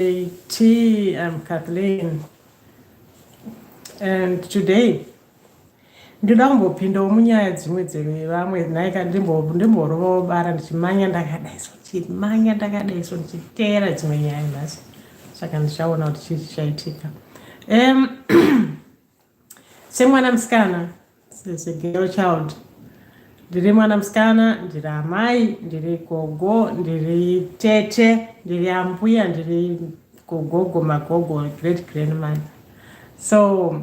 JT, I'm Kathleen. And today, ndoda kumbopindawo munyaya dzimwe dzevamwe naika ndimborovawo bara ndichimanya ndakadaiso ndichimanya ndakadaiso ndichiteera dzimwe nyaya nhasi saka ndichaona kuti chii chichaitika um, semwana musikana segirl child ndiri mwana musikana ndiri amai ndiri gogo ndiri tete ndiri ambuya ndiri gogogo magogo great grandmother so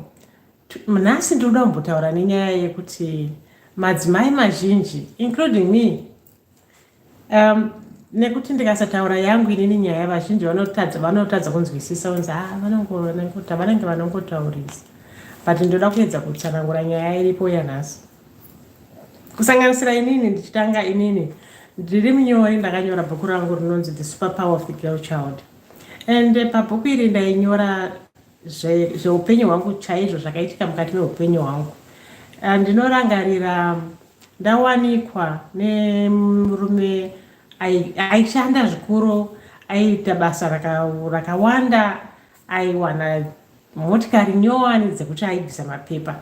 nhasi ndiri kuda kumbotaura nenyaya yekuti madzimai mazhinji including me Um, nekuti ndikasataura yangu inini nyaya vazhinji vanotadza vanotadza kunzwisisa unzi ha ah, vanongonangota vanenge vanongotaurisa but ndoda kuedza kutsanangura nyaya iripo yanhasi kusanganisira inini ndichitanga inini ndiri munyori ndakanyora bhuku rangu rinonzi the super power of the girl child and pabhuku iri ndainyora zveupenyu hwangu chaizvo zvakaitika mukati meupenyu hwangu ah, ndinorangarira ndawanikwa nemurume aishanda zvikuru aiita basa rakawanda aiwana motikari nyowani dzekuti aibvisa mapepa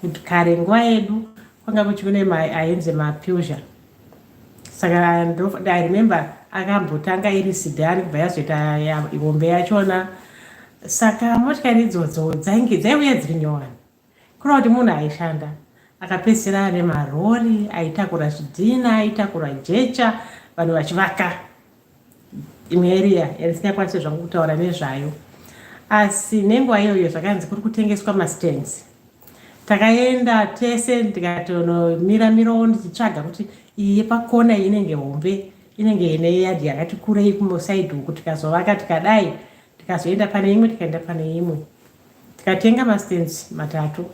kuti kare nguva yedu kwanga kuchikune ainzi mapusion saka i remember akambotanga iri sidhani kubva yazoita hombe yachona saka motikari idzodzo dzainge dzaiuya dziri nyowani kureva kuti munhu aishanda akapedzisira ane marori aitakura zvidhina aitakura jecha vanhu vachivaka imwe area yandisingakwanise zvangu kutaura nezvayo asi nenguva iyoyo zvakanzi kuri kutengeswa mastands takaenda tese ndikatonomira mirawo ndichitsvaga kuti iyi yepakona iyi inenge hombe inenge ine yadhi yakati kurei kumosaidi uku tikazovaka tikadai tikazoenda pane imwe tikaenda pane imwe tikatenga mastands matatu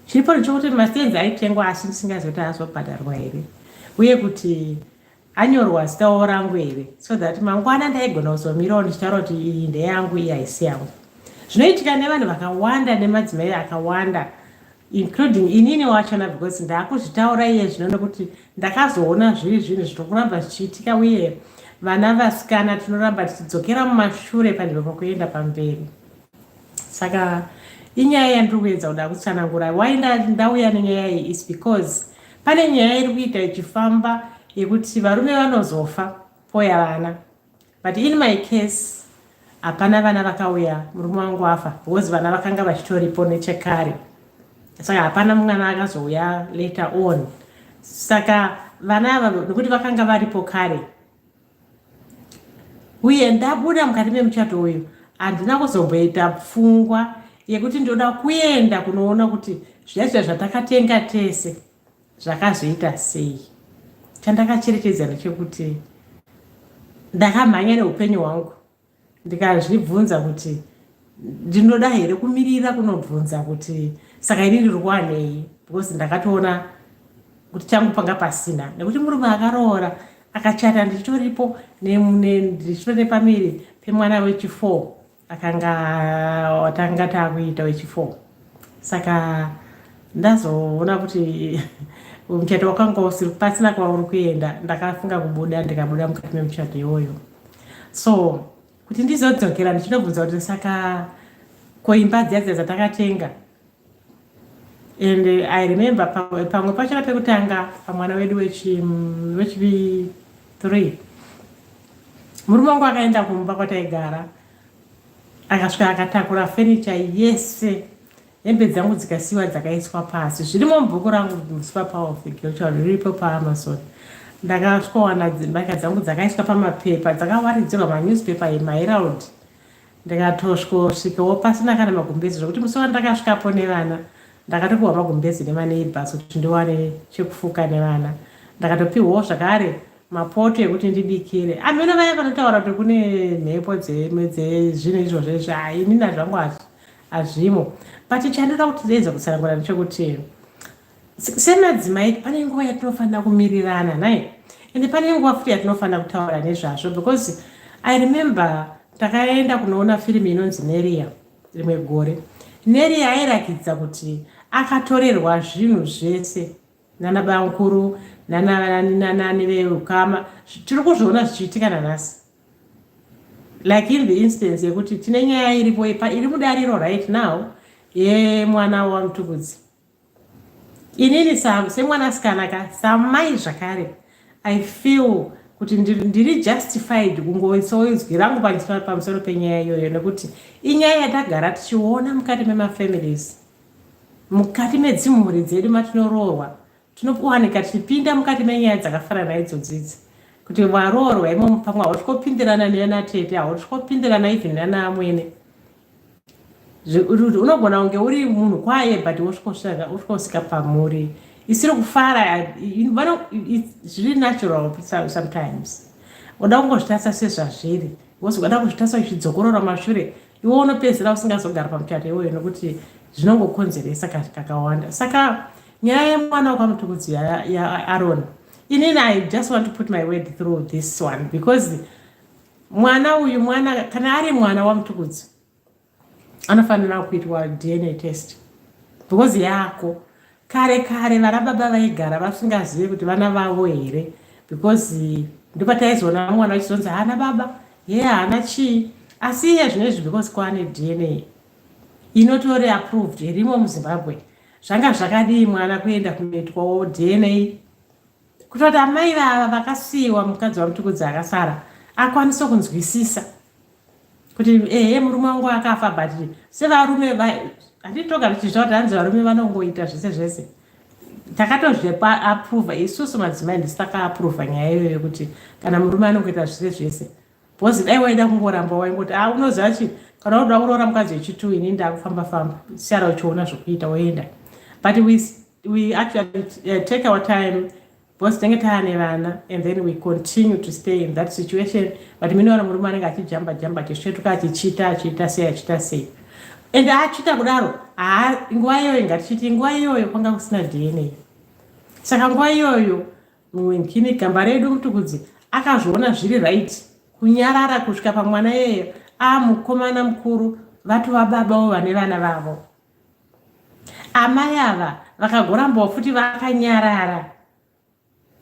chiripo ndichokuti mastands aitengwa asi ndisingazivi kuti azobhadharwa here uye kuti anyorwa zita wavo rangu here so that mangwana ndaigona kuzomirawo ndichitaura kuti iyi ndeyangu iyi haisi yangu zvinoitika nevanhu vakawanda nemadzimai akawanda including inini wachona because ndakuzvitaura iye zvino nekuti ndakazoona zviri zvinhu zvinokuramba zvichiitika uye vana vasikana tinoramba tichidzokera mumashure panzvimbo pakuenda pamberi saka inyaya yandiri kuedza kuda kutsanangura why ndauya nenyaya iyi is because pane nyaya iri kuita ichifamba yekuti varume vanozofa poya vana but in my case hapana vana vakauya murume wangu afa because vana vakanga vachitoripo nechekare saka hapana mwana akazouya later on saka vana ava nekuti vakanga varipo kare uye ndabuda mukati memuchato uyu handina kuzomboita pfungwa yekuti ndoda kuenda kunoona kuti zviyaizva zvatakatenga tese zvakazoita sei chandakacherechedza ndechekuti ndakamhanya neupenyu hwangu ndikazvibvunza kuti ndinoda here kumirira kunobvunza kuti saka ini ndiri kuwanei because ndakatoona kuti changu panga pasina nekuti murume akaroora akachata ndichitoripo ndichitori pamiri pemwana wechifour akanga watanga taakuita wechifour saka ndazoona kuti muchato wakanga usiri pasina kwauri kuenda ndakafunga kubuda ndikabuda mukati memuchato iwoyo so kuti ndizodzokera ndichinobvunza kuti saka koimba dziya dziya dzatakatenga and i remember pamwe pachona pekutanga pamwana wedu wechivi three murume wangu akaenda kumba kwataigara akasvika akatakura fenicha yese hembe dzangu dzikasiwa dzakaiswa pasi zvirimo mubhuku rangu musupa power of the girl child riripo paamazon ndakasvikowana mbatya dzangu dzakaiswa pamapepa dzakawaridzirwa manewspaper yemaherald ndikatosvikosvikawo pasina kana magumbezi zvekuti musi wandakasvikapo nevana ndakatopiwa magumbezi nemaneighbors kuti ndiwane chekufuka nevana ndakatopiwawo zvakare mapoto ekuti ndibikire amene vaya vanotaura kuti kune mhepo dzezvinhu izvozvo izvi hainina zvangu hazvi hazvimo but chandoda kuti ndiedza kutsanangura ndechekuti semadzimai pane nguva yatinofanira kumirirana nai ende pane nguva futi yatinofanira kutaura nezvazvo because i remember takaenda kunoona firimu inonzi neria rimwe gore neria airakidza kuti akatorerwa zvinhu zvese nana bamukuru nanani veukama tiri kuzviona zvichiitika nanhasi like in the instance yekuti tine nyaya iripo ipa iri mudariro right now yemwana wamutukudzi inini semwanasikana ka samai zvakare i feel kuti ndiri justified kungoisoizwi rangu pamusoro penyaya iyoyo nekuti inyaya yatagara tichiona mukati memafamilies mukati medzimhuri dzedu matinoroorwa Tinowanika tichipinda mukati menyaya dzakafanana idzodzidzi kuti varoorwa imo pamwe hauti kopindirana nana tete hauti kopindirana even nana amwene unogona kunge uri munhu kwaye but wosvikosvika pamuri isiri kufara zviri natural sometimes unoda kungozvitarisa sezvazviri wozoda kuzvitarisa uchidzokorora mashure iwe unopedzera usingazogara pamuchato iwoyo nokuti zvinongokonzeresa kakawanda saka nyaya yemwana wekwamutukudzi yaaron inini i just want to put my word through this one because mwana uyu mwana kana ari mwana wamutukudzi anofanira kuitwa dna test because yako kare kare vana baba vaigara vasingazive kuti vana vavo here because ndopataizoona mwana vachizonzi haana baba ye yeah, haana chii asi iye zvino izvi because kwaane dna inotore approved irimo muzimbabwe zvanga zvakadii mwana kuenda kunoitwawo dna kutoti amai vava vakasiyiwa mukadzi wamutukudzi akasara akwanise kunzwisisa kuti ehe murume wangu akafa but sevarume handitoga tichiziva kuti hanzi varume vanongoita zvese zvese takatozvepa aprova isusu madzimai ndisi takaaprova nyaya iyoyo kuti kana murume anongoita zvese zvese Bozi dai waida kungoramba waingoti ah unoziva chi kana unoda kuroora mukadzi wechitu ini ndakufamba famba siyara uchiona zvokuita woenda but we, we actually uh, take our time because tinenge taane vana and then we continue to stay in that situation but minoona murume anenge achijamba jamba achisvetuka achichita achiita sei achiita sei and achiita kudaro nguva iyoyo ngatichiti nguva iyoyo kwanga kusina dna saka nguva iyoyo Mwenkini gamba redu mutukudzi akazviona zviri right kunyarara kusvika pamwana yeyo a mukomana mukuru vatova babawo vane vana vavo amai ava vakagorambawo futi vakanyarara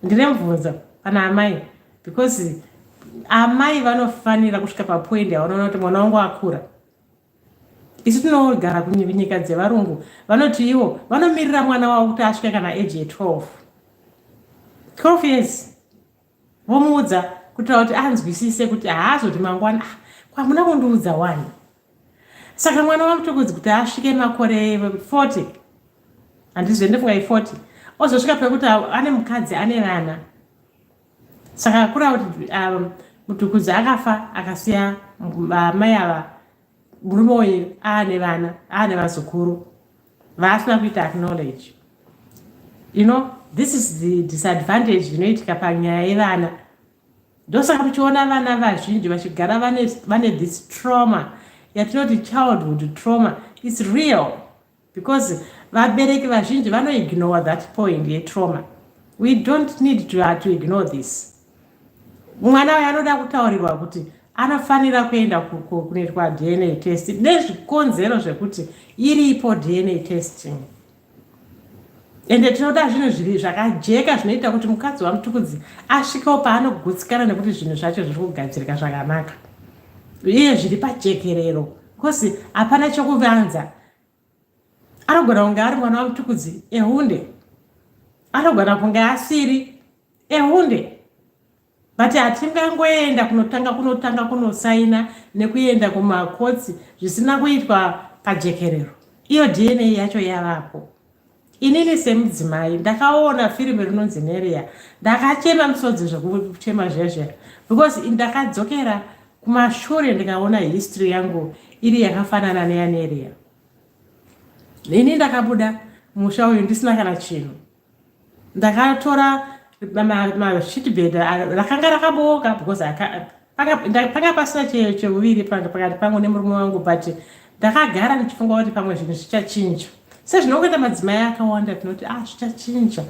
ndine mubvunzo pana amai because amai vanofanira kusvika papoindi yavanoona kuti mwana wangu akura isu tinogara kunyika dzevarungu vanoti ivo vanomirira mwana wavo kuti asvike kana age ye12 12 years vomuudza kutira kuti anzwisise kuti haazoti mangwana ah, kwamuna kundiudza wani saka mwana wamutokodzi kuti asvike makore 40 handizoende funga i40 ozosvika pekuti ane mukadzi ane vana saka kura kuti um, mutukudzi akafa akasiya amai ava murume uyu aane vana aane vazukuru vaasina kuita acknowledge you know this is the disadvantage inoitika panyaya yevana ndosaka tichiona vana vazhinji vachigara vane this trauma yatinoti childhood trauma its real because vabereki vazhinji vanoignore that point yetrauma we don't need to, uh, to ignore this mwana uyo anoda kutaurirwa kuti anofanira kuenda kunoitwa dna test nezvikonzero zvekuti iripo dna testing ende tinoda zvinhu zviri zvakajeka zvinoita kuti mukadzi wamutukudzi asvikewo paanogutsikana nekuti zvinhu zvacho zviri kugadzirika zvakanaka iye zviri pajekerero Kosi hapana chokuvanza. Anogona kunge ari mwana wamutukudzi ehunde. Anogona kunge asiri ehunde. But hatingangoenda kunotanga kunotanga kunosaina nekuenda kumakotsi zvisina kuitwa pajekerero. Iyo DNA yacho yavapo. inini semudzimai ndakaona firimu rinonzi nerea ndakachema misodzi zvekuchema zvezvera because ndakadzokera kumashure ndikaona history yangu iri yakafanana neyanerea ini ndakabuda musha uyu ndisina kana chinhu ndakatora mashitbed rakanga rakabooka because panga pasina cheuviri pakati pangu nemurume wangu but ndakagara ndichifunga kuti pamwe zvinhu zvichachinja sezvinongoita madzimai akawanda tinoti ah zvichachinja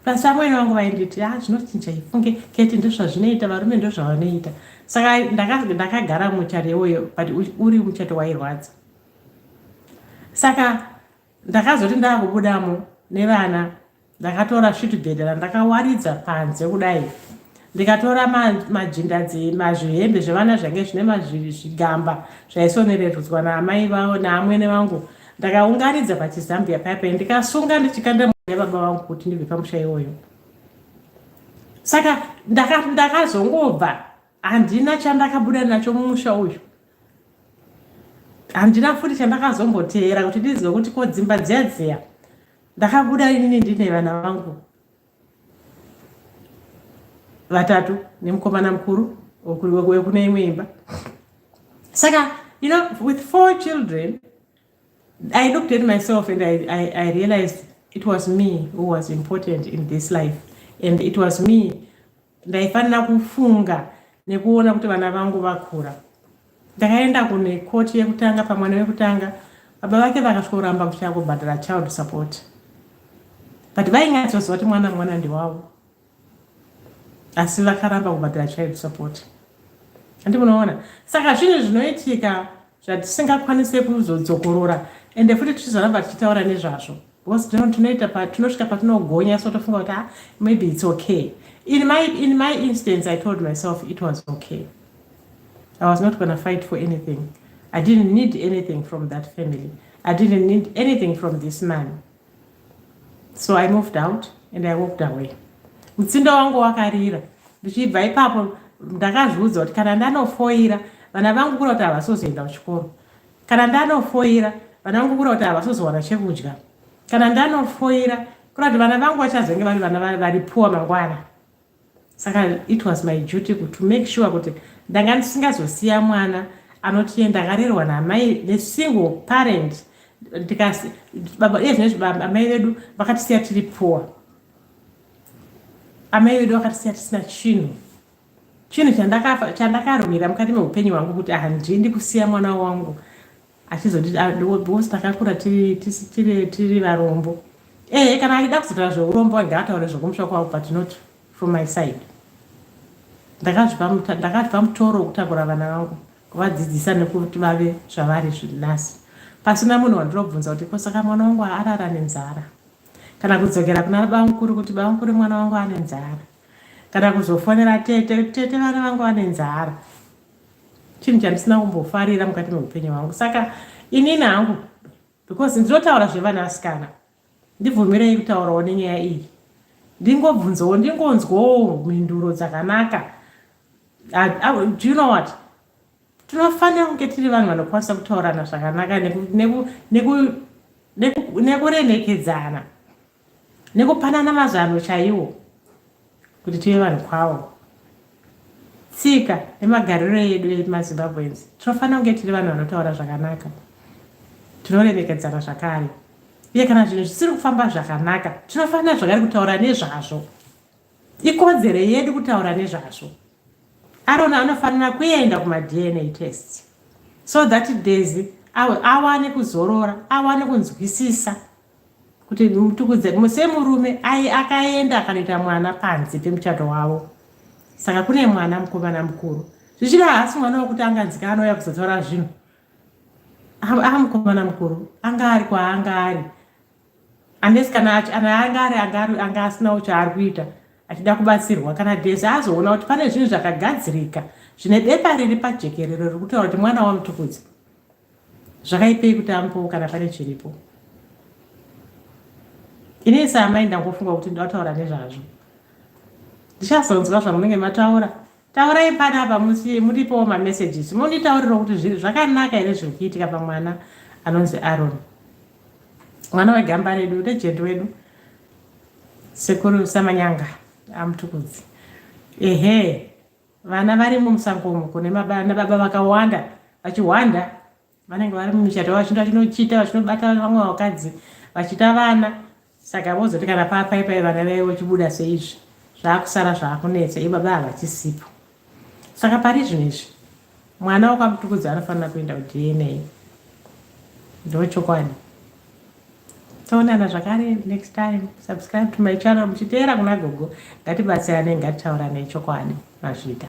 plus amwene vangu vainditi ah zvinochinja ifunge keti ndozvazvinoita varume ndozvavanoita saka ndakagara muchato iwoyo but uri muchato wairwadza saka ndakazoti ndakubudamo nevana ndakatora svitibhedha randakawaridza panze kudai ndikatora majindazi mazvihembe zvevana zvange zvine mazvigamba zvaisonererwudzwa naamai vavo naamwene vangu ndakaungaridza pachizambia paipe ndikasunga ndichikanda mwana baba vangu kuti ndibve pamusha iwoyo saka ndakazongobva handina chandakabuda nacho mumusha uyu handina futi chandakazomboteera kuti ndizive kuti ko dzimba dziya dziya ndakabuda inini ndine vana vangu vatatu nemukomana mukuru wekune imwe imba saka you know with four children i looked at myself and I, I, I realized it was me who was important in this life and it was me ndaifanira kufunga nekuona kuti vana vangu vakura ndakaenda kune koti yekutanga pamwana wekutanga baba vake vakasvoramba kuchaya kubhadhara child support but vainyatsozova kuti mwana mwana ndiwavo asi vakaramba kubhadhara child support andi munoona saka zvinhu zvinoitika zvatisingakwanise kuzodzokorora ende futi tichizoramba tichitaura nezvazvo because tinoita patinosvika patinogonya so tofunga kuti ah, maybe it's okay in my, in my instance i told myself it was okay i was not gonna fight for anything i didn't need anything from that family i didn't need anything from this man so i moved out and i walked away mutsinda wangu wakarira ndichibva ipapo ndakazviudza kuti kana ndanofoira vana vangu kura kuti havasozoenda kuchikoro kana ndanofoira vana vangu kura kuti havasozowana chekudya kana ndanofoira kura kuti vana vangu vachazenge vari vana vari puwa mangwana saka it was my duty to make sure kuti ndanga ndisingazosiya mwana anoti ye ndakarerwa namai the single parent ndikasi baba iye zvinezvi baba amai vedu vakatisiya tiri poor amai vedu vakatisiya tisina chinhu chinhu chandakarwira mukati meupenyu hwangu kuti handidi kusiya mwana wangu achizoti because takakura tiri tiri tiri varombo eh kana achida kuzotaura zveurombo ngaataure zvokumusha kwavo but not from my side ndakazvipa ndakazvipa mutoro wekutakura vana vangu kuvadzidzisa nekuti vave zvavari zvinasi pasina munhu wandirobvunza kuti ko saka mwana wangu arara nenzara kana kudzokera kuna bamukuru kuti bamukuru mwana wangu ane nzara kana kuzofonera tete tete vana vangu vane nzara chinhu chandisina kumbofarira mukati meupenyu hwangu saka inini hangu because ndinotaura zvevana asikana ndibvumirei kutaurawo nenyaya iyi ndingobvunzawo ndingonzwawo mhinduro dzakanaka do you know what tinofanira kunge tiri vanhu vanokwanisa kutaurana zvakanaka nekuremekedzana neku, neku, neku, neku nekupanana mazano chaiwo kuti tive vanhu kwawo tsika nemagariro edu emazimbabweans tinofanira kunge tiri vanhu vanotaura zvakanaka tinoremekedzana zvakare uye kana zvinhu zvisiri kufamba zvakanaka tinofanira zvakare kutaura nezvazvo ikodzero yedu kutaura nezvazvo arona anofanira kuenda kumadna test so that daisy awane kuzorora awane kunzwisisa kuti mutukudze kumwe semurume ai akaenda akanoita mwana panze pemuchato wavo saka kune mwana mukomana mukuru zvichida haasi mwana wekuti anganzika anouya kuzotaura zvinhu aa mukomana mukuru anga ari kwaanga ari unless kana anga ari anga asinawo chaari kuita achida kubatsirwa kana dese azoona kuti pane zvinhu zvakagadzirika zvine bepa riri pajekerero riri kutaura kuti mwana wamutukudzi zvakaipei kuti amupewo kana pane chiripo ini isi amai ndangofunga kuti ndataura nezvazvo ndichazonzwa zvamunenge mataura taurai panapa musi muripowo mamessages monditaurira kuti zviri zvakanaka here zviri kuitika pamwana anonzi aron mwana wegamba redu regent wedu sekuru samanyanga amutukudzi ehe Vana varimo musango umu kune mabana baba vakawanda vachihwanda vanenge vari mumichato vachinda chinochita vachinobata vamwe vakadzi vachita vana saka vozoti kana papaipai vana vaive vachibuda seizvi zvaakusara zvaakunetsa ibaba havachisipo saka pari zvinhu izvi Mwana wakakutukudza anofanira kuenda kuDNA. Ndochokwadi. Toonana zvakare next time. Subscribe to my channel muchiteera kuna gogo. Ngatibatsirane ngatitauranei chokwadi mazvita.